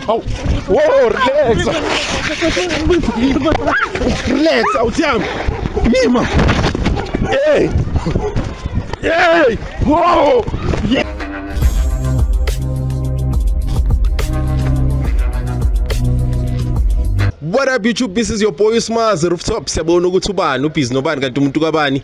Au. Wow, relax. Relax, awuthiyami. Yima. Hey. Hey. Wow. What up YouTube, this is your boy Smazi Rooftop. Siyabona ukuthi ubani, ubhizi nobani kanti umuntu kabani.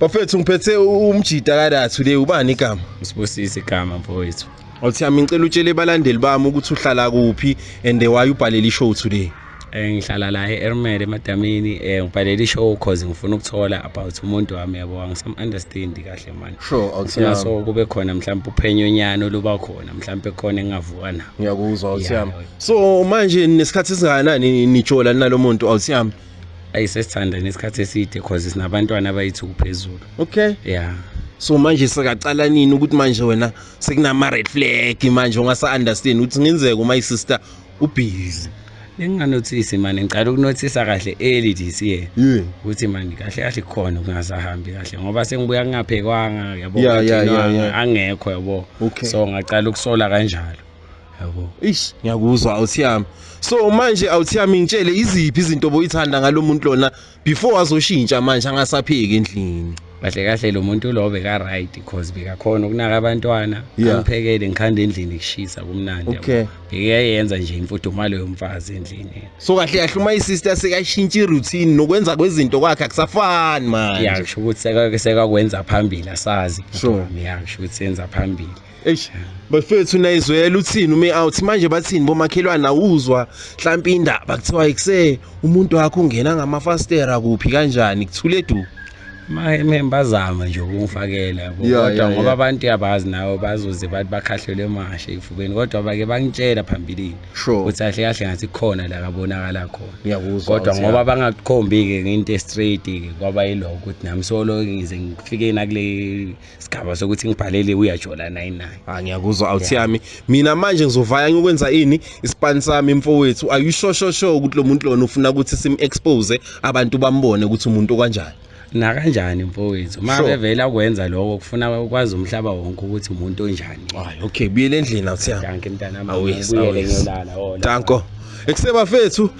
bafethu ngiphethe umjita kadathu le ubani igama usibusise igama mfowethu othi yami ngicela utshele balandeli bami ukuthi uhlala kuphi and why ubhalele ishow today eh, ngihlala la e-ermel emadamini um eh, ngibhalele ishow cause ngifuna ukuthola about umuntu wami yabo angisam-understandi kahle mani sure awuthina so kube khona mhlawumbe uphenyonyana oluba khona mhlawumbe khona engingavuka na ngiyakuzwa awuthiyami so manje nesikhathi esingakanani nijola nalo muntu awusiyami ayi sesithanda nesikhathi eside cause sinabantwana abayithu kuphezulu okay yeah so manje sekaqala nini ukuthi manje wena sekunama red flag manje ungasa understand ukuthi ngenzeka uma isister ubhizi benginganothisi mani ngicala ukunothisa kahle early this year ukuthi mani kahle kahle kukhona kungasahambi kahle ngoba sengibuya kungaphekwanga yabo angekho yabo so ngacala ukusola kanjalo yabo ish ngiyakuzwa awuthiyami so manje awuthiyami ngitshele iziphi izinto boyithanda ngalomuntu lona before azoshintsha manje angasapheki endlini kahle kahle lo muntu lo beka right because bekakhona ukunaka abantwana yeah. angiphekele ngikhanda endlini kushisa kumnandi okay. bekayenza nje imfudumalo yomfazi endlini so kahle kahle uma isister sekashintsha iroutine nokwenza kwezinto kwakhe akusafani manje yasho ukuthi sekakwenza phambili asazi sure. yasho ukuthi senza phambili Eish bafethu nayizwela uthini ume out manje bathini bomakhelwane awuzwa mhlawumbe indaba kuthiwa ikuse umuntu wakho ungena ngamafastera kuphi kanjani kuthule du maye bazama nje ukungifakela kodwa ngoba abantu yabazi nawe bazoze bathi bakhahlelwe emashe ifubeni kodwa bake bangitshela phambilini ukuthi kahle kahle ngathi khona la kabonakala khona kodwa ngoba bangakukhombi-ke ngento estraight-ke kwaba yilokho ukuthi nami solo ngize ngifike nakule sigaba sokuthi ngibhalele uyajola naye naye ah ngiyakuzwa awuthi yami mina manje ngizovaya ngikwenza ini ispan sami mfowethu are you sure sure sure ukuthi lo muntu lona ufuna ukuthi sim expose abantu bambone ukuthi umuntu kanjani nakanjani mfowethu uma sure. bevela kwenza lokho kufuna ukwazi umhlaba wonke ukuthi umuntu onjani hayi okay buyele endlini awuthi yami danke mntanami awuyele ngiyolala oh, danko ekusebafethu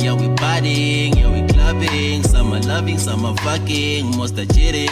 Yeah, we partying, yeah, we clubbing. Some are loving, some are fucking, most are cheating.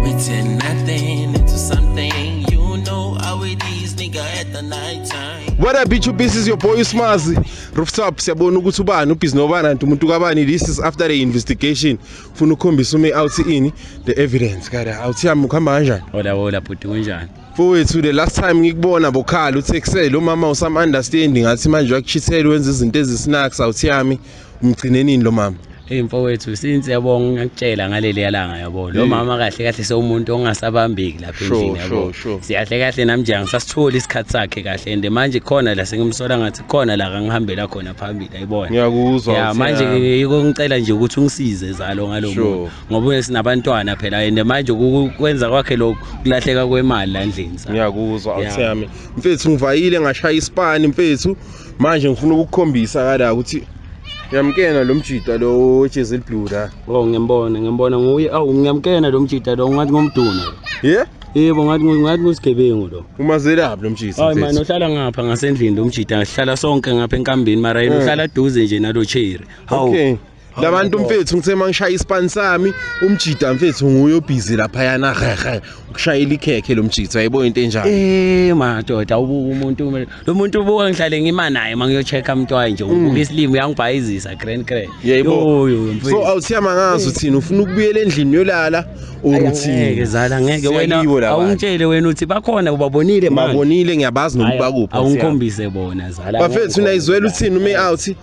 We turn nothing into something. You know how it is, nigga, at the night time. What up bitch this is your boy Smazi Rooftop siyabona ukuthi ubani ubhizi nobani anti umuntu kabani this is after the investigation ufuna ukukhombisa ume out ini the evidence kada awuthi yami ukuhamba kanjani Hola hola bhuti kunjani Mfowethu the last time ngikubona bokhala uthe kuse lo mama usam understand ngathi manje wakuchithela wenza izinto ezisinaks awuthi yami umgcine nini lo mama Hey mfowethu since yabo ngakutshela ngaleli yalanga yabo lo mama kahle kahle sewumuntu ongasabambeki lapha endlini yabo siyahle kahle namnje angisasitholi isikhathi sakhe kahle and manje khona la sengimsola ngathi khona la kangihambela khona phambili ayibona ngiyakuzwa ya manje yiko ngicela nje ukuthi ungisize zalo ngalomuntu ngoba uyesi nabantwana phela and manje ukwenza kwakhe lokhu kulahleka kwemali la endlini sa ngiyakuzwa Yeah. awuthi yami mfethu ngivayile ngashaya isipani mfethu manje ngifuna ukukukhombisa kala ukuthi yamkena lo mjita lo wejezi eliblue la oh ngiyambona ngiyambona nguye awu ngiyamkena lo mjita lo ngathi ngomduna ye yebo ngathi ngu- ngathi ngusigebengu lo umazelaphi lo mjita hayi mani mfethu uhlala ngapha ngasendlini lo mjita sihlala sonke ngapha enkambini mara yena Mm. uhlala duze nje nalo cherry hawu Okay. labantu mfethu ngithe mangishaya ispan sami umjida mfethu nguye obhizi lapha yana hehe ukushayela ikhekhe lomjida ayibo into enjalo eh madoda ubuka umuntu lo muntu ubuka ngihlale ngima naye mangiyochecka umntwana nje ubuka mm. isilimo uyangibhayizisa grand grand yebo so awusiyama ngazo thina ufuna ukubuyela endlini yolala ukuthi ngeke zala ngeke wena awungitshele wena uthi bakhona ubabonile manje babonile ngiyabazi nokubakupha awungikhombise bona zala bafethu nayizwela uthini ume out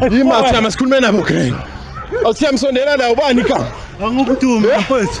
Awuthiyama sikhulume nabo Green. Awuthiyama sondela nawo bani ka? Angikudumi mfethu.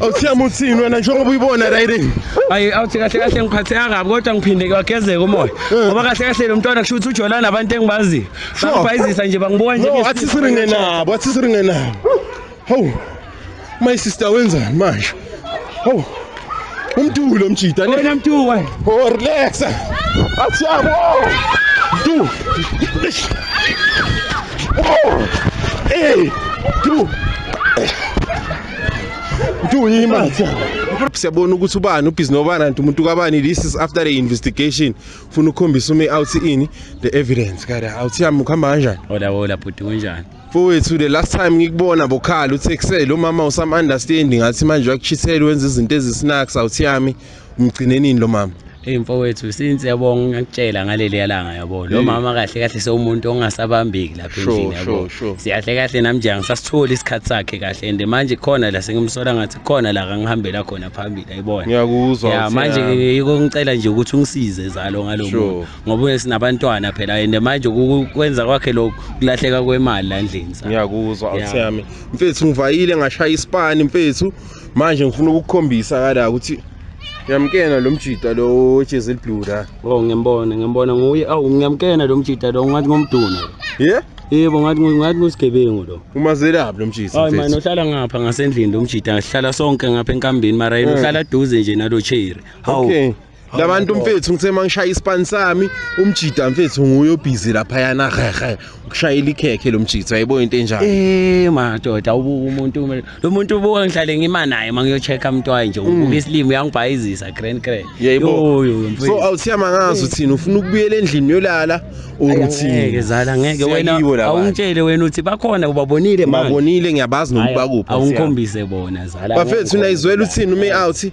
awuthiyama uthini wena njengoba uyibona rayirini ayi awuthi kahle kahle ngiphatheka kabi kodwa ngiphinde kwagezeka umoya eh. ngoba kahle kahle lo mntwana kusho ukuthi ujolana nabantu engibaziyo bangibhayizisa nje bangibuka nje athi siringe nabo athi siringe nabo hawu my sister wenzani manje hawu umdulo umjida wena mduwa oh relax athi yabo du oh eh du uthi uyima siyabona ukuthi ubani ubhizi nobani anti umuntu kabani this is after the investigation ufuna ukukhombisa ume out ini the evidence kada awuthi yami ukuhamba kanjani hola hola bhuti kunjani mfowethu the last time ngikubona bokhala uthe kusele lo mama usam understanding ngathi manje wakuchithela wenza izinto ezisinaks awuthi yami umgcinenini lo mama Hey mfowethu since yabonga ngakutshela ngaleli yalanga yabo lo mama kahle kahle sewumuntu ongasabambeki lapha endlini yabo siyahle kahle nami nje angisasitholi isikhathi sakhe kahle and manje khona la sengimsola ngathi khona la kangihambela khona phambili ayibona ngiyakuzwa ya manje yiko ngicela nje ukuthi ungisize zalo ngalomuntu ngoba sinabantwana phela and manje ukwenza kwakhe lokho kulahleka kwemali la endlini ngiyakuzwa awuthi yami mfethu ngivayile ngashaya isipani mfethu manje ngifuna ukukukhombisa kala ukuthi ngiyamkena lo mjita lo ojezi eliblue la oh ngiyambona ngiyambona nguye awu ngiyamkena lo mjita lo ngathi ngomduna ye yebo ngathi ngathi ngosigebengu lo umazelaphi lo mjita hayi manje uhlala ngapha ngasendlini lo mjita sihlala sonke ngapha enkambini mara yena hmm. uhlala duze nje nalo cherry hawu labantu mfethu ngithe mangishaya ispan sami umjida mfethu nguye obhizi lapha yana hehe ukushayela ikhekhe lomjida ayibo into enjalo eh madoda ubuka umuntu lo muntu ubuka ngihlale ngima naye mangiyochecka umntwana nje ubuka mm. isilimo uyangibhayizisa grand grand yebo so awusiyama ngazo thina ufuna ukubuyela endlini yolala ukuthi ngeke zala ngeke wena awungitshele wena uthi bakhona ubabonile manje babonile ngiyabazi nokubakupha awungikhombise bona zala bafethu nayizwela uthini ume out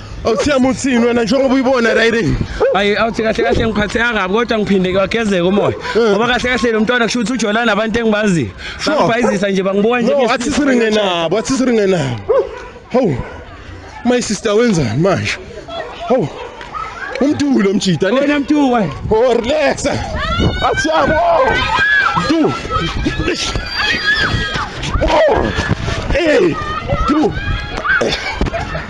awuthiyama uthini wena njengoba uyibona riding ayi awuthi kahle kahle ngiphatheka kabi kodwa ngiphinde kwagezeka umoya eh. ngoba kahle kahle lo mntwana kusho ukuthi ujolana nabantu engibaziyo bangibhayizisa nje bangibuka nje athi siringe nabo athi siringe nabo hawu my sister wenzani manje hawu umdulo omjida wena mdulo wena oh relax athi yabo du oh hey du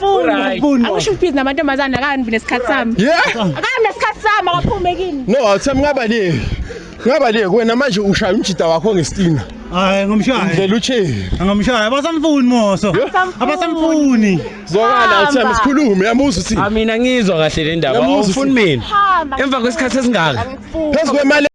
Right. Funa. Angisho ukuthi busy namantombazane akambi nesikhathi sami. Yeah. Akambi nesikhathi sami akaphume kini. No, awuthami ngaba le. Ngaba le wena manje ushaya umjita wakho ngestina. Hayi ngomshaya. Ndlela uthini? Ngomshaya abasamfuni moso. Abasamfuni. Zokala awuthami sikhulume yamuza uthi. Amina ngizwa kahle le ndaba. Awufuni mina. Emva kwesikhathi esingaka. Phezu kwemali